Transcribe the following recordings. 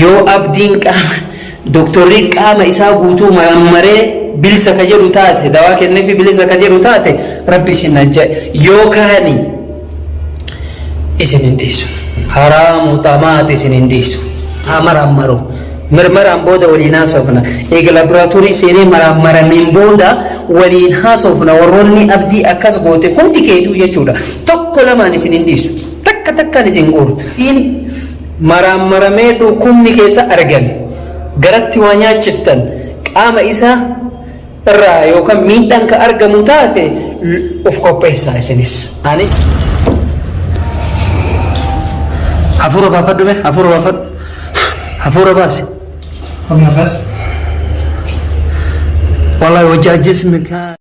Yoo abdiin qaama doktorri qaama isaa guutuu marammaree bilisa ka jedhu taate dawaa kenneefi bilisa ka jedhu taate rabbi isin ajja yoo kaani isin hin dhiisu haraamu xamaati isin hin dhiisu haa marammaru mirmaraan booda waliin haasofna eega laboraatoorii seenee marammaraniin booda waliin haasofna warroonni abdii akkas goote hundi keetuu jechuudha tokko lamaan isin hin dhiisu takka takkaan isin guuru maraammaramee dhukkubni keessa argame garatti waa nyaachiftan qaama isaa irraa yookaan miidhaan ka argamu taate of qopheessaa isinis anis hafuura baafadhu mee hafuura baafadhu hafuura baase Nafas. wallahi wajji ajjismi kaa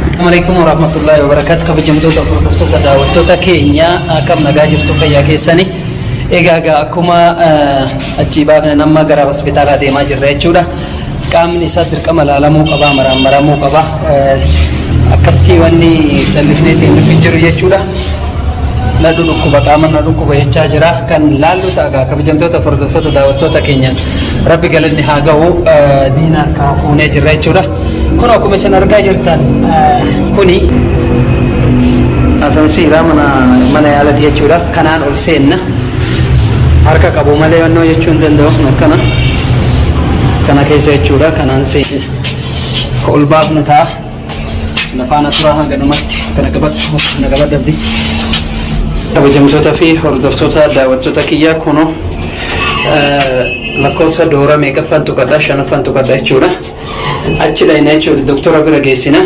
Assalamualaikum warahmatullahi wabarakatuh. Kabajamtoota hordoftoota daawwattoota keenya akkam nagaa jirtu fayyaa keessanii. Egaa egaa akkuma achii baafne nama gara hospitaalaa deemaa jirra jechuudha. Qaamni isaa dirqama laalamuu qaba, maraammaramuu qaba. Akkatti wanni callifnee teenyuuf hin jiru jechuudha. Na dhukkuba qaama na dhukkuba jechaa jira. Kan laallu ta'a kabajamtoota hordoftoota daawwattoota keenya. Rabbi galanni haa gahu diina harkaa fuunee jirra jechuudha. Kun akkuma isin argaa jirtan kuni asansiira mana mana yaalati jechuudha. Kanaan ol seenna. Harka qabu malee wannoo jechuu hin danda'u kun akkana. Kana keessa jechuudha kanaan seenna. Ol baafnu ta'a. Nafaana turaa hanga dhumatti akka na qabattu akka na qabattu abdi. Kabajamtoota fi hordoftoota daawwattoota kiyyaa kunoo lakkoofsa doora meeqaffaan tuqadha shanaffaan tuqadha jechuudha. Achi dhayna jechuudha doktora bira geessina.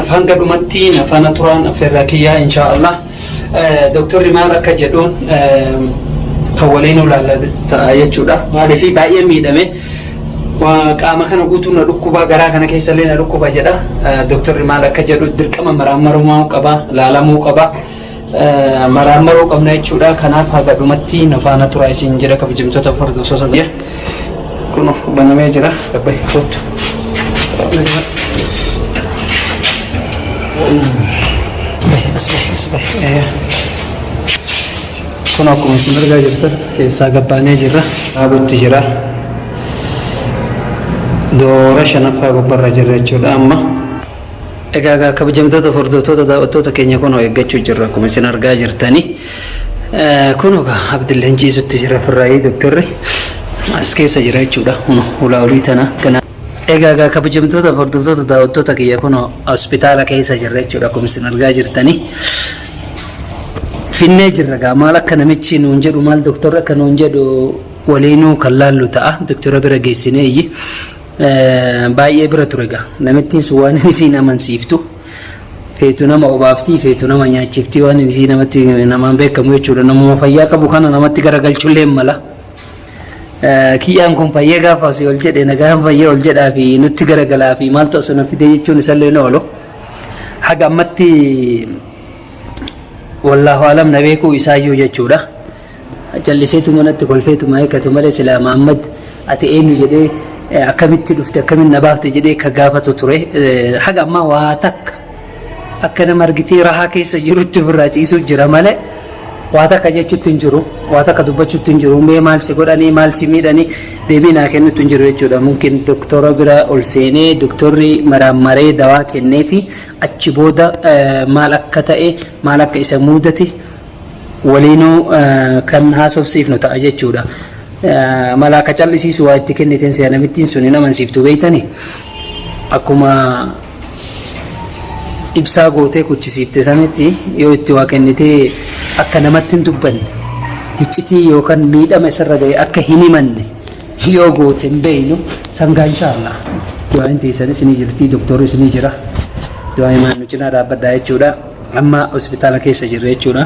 Hanga dhumatti nafaana turaan affeerraa kiyyaa inshaallah. Doktorri maal akka jedhuun kan waliin ilaallatu ta'a jechuudha. Maaliif baay'ee miidhame qaama kana guutuu na dhukkuba garaa kana keessa illee na dhukkuba jedha. Doktorri maal akka jedhu dirqama maraammarummaa qaba laalamuu qaba. Maraammaruu qabna jechuudha. Kanaaf haga dhumatti na faana tura isin jedha kabajamtoota hordoftoota. Kuno banamee jira. Gabba hin kootu. Kun akkuma isin argaa jirtan keessaa gabbaanee jirra. Dhaabutti jira. Doora shanaffaa gubbarra jirra jechuudha amma. Egaa egaa kabajamtoota hordoftoota daawwattoota keenya kunoo eeggachuu jirra akkuma isin argaa jirtanii. Kunoo gaa Abdilleen ciisutti jira firraayii doktorri as keessa jira jechuudha. Huno hulaa olii tana ganaa. Egaa gaa kabajamtoota hordoftoota daawwattoota kiyya kunoo hospitaala keessa jirra jechuudha akkuma isin argaa jirtanii. Finnee jirra gaa maal akka namichi nuun jedhu maal doktorri akka nuun jedhu waliinuu kan laallu ta'a doktora bira geessinee iyyi. Baay'ee bira ture gaa namittiin sun waan isiin amansiiftu. feetu nama obaaftii feetu nama nyaachiftii waan isii namatti namaan beekamu jechuudha namuma fayyaa qabu kana namatti garagalchullee mala kiyyaan kun fayyee gaafa asii ol jedhe nagaan fayyee ol jedhaa fi nutti garagalaa fi maaltu asii na fidee jechuun isallee na oolu haga ammatti wallaahu alam na beekuu isaayyuu jechuudha. calliseetuma natti kolfeetuma eeggatu malee silaa Maammad ati eenyu jedhee akkamitti dhufte akkamitti na baafte jedhee ka gaafatu ture haga ammaa waa takka akka nama argitee rahaa keessa jirutti ofirraa ciisuu jira malee waa takka jechuutti hin jiru waa takka dubbachuutti hin jiru mee maal si godhanii maal si miidhanii deebii naa kennuutti hin jiru jechuudha mumkin doktora bira ol seenee doktorri maraammaree dawaa kennee fi achi booda maal akka ta'e maal akka isa muudate waliinuu kan haasofsiifnu ta'a jechuudha. Mala akka callisiisu waa itti kenniteen si'a namittiin sun hin amansiiftu beektani akkuma ibsaa gootee kuchisiifte sanitti yoo itti waa kennitee akka namatti hin dubbanne hiccitii yookaan miidhama isarra ga'e akka hin himanne yoo goote hin beeynu sangaa inshaallah du'aan teessanis ni jirti doktorris ni jira du'aa himaan nu cinaa dhaabbadhaa jechuudha. Amma hospitaala keessa jirra jechuudha.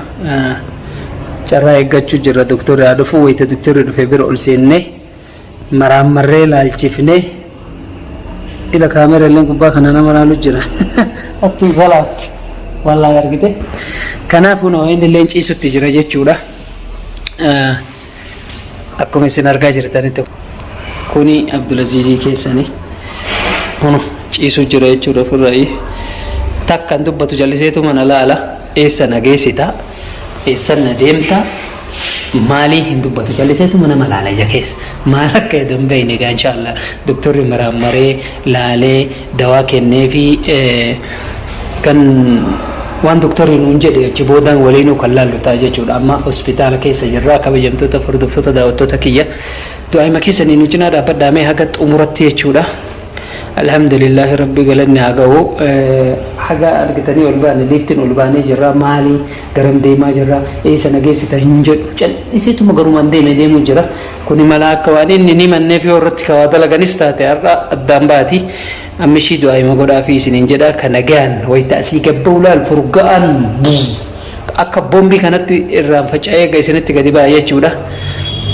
Carraa eeggachuu jirra doktorri haa dhufu wayita doktorri dhufe bira ol seennee maraammarree laalchifnee ila kaameera illee gubbaa kana nama laalu jira. Attiin salaatti wallaahi argite. Kanaafuu inni illee ciisutti jira jechuudha. akkuma isin argaa jirtanitti kuni Abdulaziizii keessani hunu ciisuu jira jechuudha ofirraayi takkan dubbatu jalliseetu mana laala eessa na geessita eessan na deemta maalii hin dubbatu jalliseetu mana malaala ija keessa maal akka edan beeyne egaa inshaallah doktorri maraammaree laalee dawaa kenneefii kan waan doktorri nuun jedhe achi boodaan waliinuu kan laallu ta'a jechuudha. Amma hospitaala keessa jirra. Kabajamtoota hordoftoota daawwattoota kiyya du'aayima keessanii nu cinaa dhaabbadhaa mee haga xumuratti jechuudha. Alhamdulillaahi rabbi galanni haa ga'u. Haga argitanii ol baane liiftiin ol baanee jirra maali garam deemaa jirra eessa na geessita hin jedhu cal'isiituma garumaan deeme deemuu jira. Kuni malaa akka waan inni hin himanneef yoo irratti ka waa dalaganis taate har'a addaan baati. Amma ishii du'aayima godhaafii isiniin jedha ka nagayaan wayta asii gad ba'u laal furga'aan buu akka bombii kanatti irraan faca'ee ga isinitti gadi ba'a jechuudha.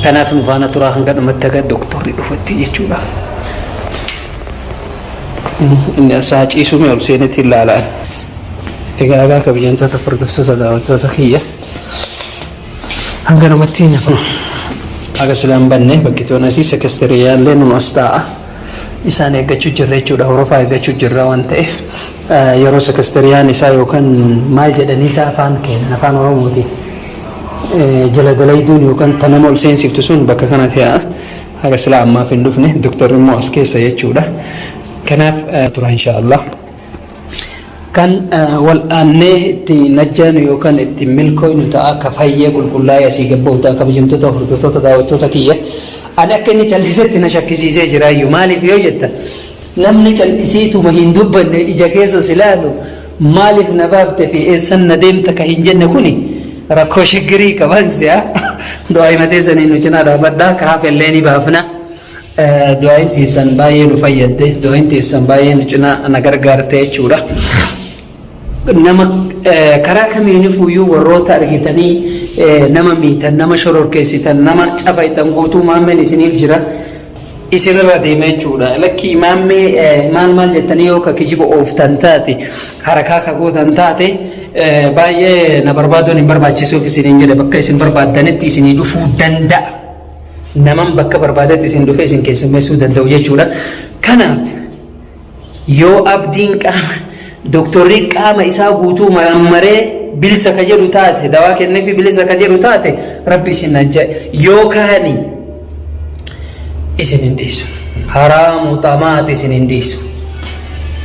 Kanaaf nu faana turaa hanga dhumatti haga doktorri dhufutti jechuudha. Inni as haa ciisuu mee ol seenetti hin laalaan. Egaa egaa kabajamtoota furdurtoota daawwattoota kiyya. Hanga namatti na kun. Aga silaan banne bakki toonasii sekestiriyaa illee numa as taa'a. Isaan eeggachuu jirra jechuudha. Horofaa eeggachuu jirra waan ta'eef yeroo sekestiriyaan isaa yookaan maal jedhanii isaa afaan keenya afaan Oromootiin jala dalayduun yookaan ta nama ol seensiftu sun bakka kana ta'a. Haga silaa ammaaf hin dhufne doktorri immoo as keessa jechuudha. Kanaaf tura inshaallah. Kan wal'aannee itti najjaanu yookaan itti milkooynu ta'a akka fayyee qulqullaa'ee asii gabba'u ta'a kabajamtoota hordoftoota daawwattoota kiyya. Ani akka inni callisetti na shakkisiisee jira iyyuu maaliif yoo jetta namni callisiituma hin dubbanne ija keessa si laalu maaliif na baafte fi eessan na deemta ka hin jenne kuni rakkoo shiggirii qaban si'a du'aa himatee sanii nu cinaa dhaabadhaa ka hafellee ni baafna. Du'aayin teessan baay'ee nu fayyadde, du'aayin teessan baay'ee nu cinaa na gargaarte jechuudha. Nama karaa kamiinifuyyuu warroota argitanii nama miitan, nama shororkeessitan, nama cafaitan guutuu maammeen isiniif jira. Isinirra deema jechuudha. Lakki maammee maal maal jettanii yoo ka kijiba ooftan taate, harakaa ka gootan taate baay'ee na barbaaduun hin barbaachisuuf isiniin jedhe bakka isin barbaaddanitti isinii dhufuu danda'a. naman bakka barbaadetti isin dhufee isin keessummeessuu danda'u jechuudha. Kanaaf yoo abdiin qaama doktorri qaama isaa guutuu marammaree bilisa ka jedhu taate dawaa kenneefi bilisa ka jedhu taate rabbi isin ajja yoo kaani isin hin dhiisu haraamu xamaati isin hin dhiisu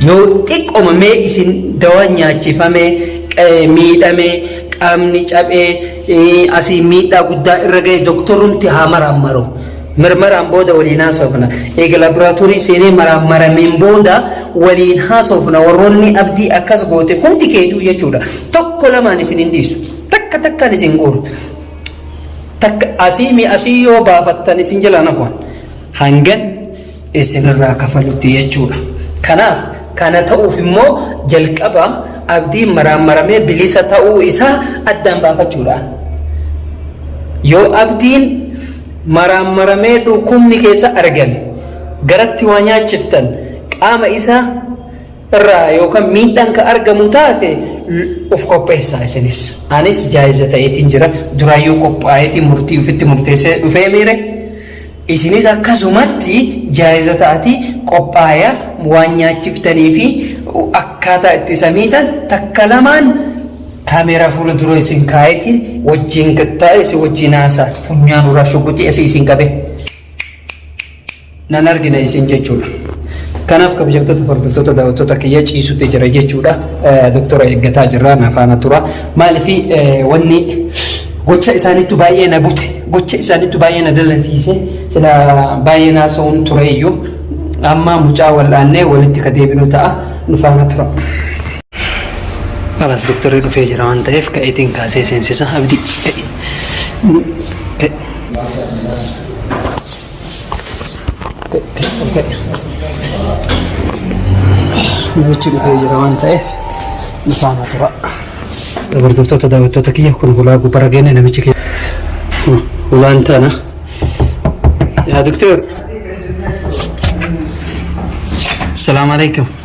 yoo xiqqoma mee isin dawaa nyaachifamee miidhamee qaamni cabee Asiin miidhaa guddaa irra ga'e doktorumti haa maraammaru. Mirmaraan booda waliin haasofna. Eega laaboraatoorii seenee maraammarameen booda waliin haasofna. Warroonni abdii akkas goote hundi keetuu jechuudha. Tokko lamaan isin hin dhiisu. Takka takkaan isin guuru. Takka asii mi asii yoo baafattan isin jalaan hafuun. Hangan isinirraa kafalutti jechuudha. Kanaaf kana ta'uuf immoo jalqaba abdiin maraammaramee bilisa ta'uu isaa addaan baafachuudhaan. Yoo abdiin maraammaramee dhukkubni keessa argame garatti waa nyaachiftan qaama isaa irraa yookaan miidhaan ka argamu taate of qopheessaa isinis. Anis jaayiza ta'eetiin jira duraayyuu qophaa'eetiin murtii ofitti murteessee dhufee miire Isinis akkasumatti jaa'iza ta'ati qophaaya waan nyaachiftanii fi akkaataa itti isa miitan takka lamaan kamera fuula dura isin kaayetiin wajjiin gattaa'e isin wajjiin haasa funyaan uraa shuguxii asii isin qabe nan argina isin jechuudha. Kanaaf kabajamtoota hordoftoota daawwattoota kiyya ciisutti jira jechuudha. Doktora eeggataa jirra nafaana tura. Maaliif wanni Gocha isaanittu baay'ee na bute. Gocha isaanittu baay'ee na dallansiise. Sila baay'ee na haasa'uun ture iyyuu amma mucaa wal'aannee walitti ka deebinu ta'a. Nu faana tura. Alas doktorri dhufee jira waan ta'eef ka'eetiin kaasee seensisa abdii. Namichi dhufee jira waan ta'eef ifaana tura. Dabartoota daawwattoota kiyya kun hulaa gubbara geenne namichi kiyya. Hulaan tana. Yaa doktor. Salaamu alaikum.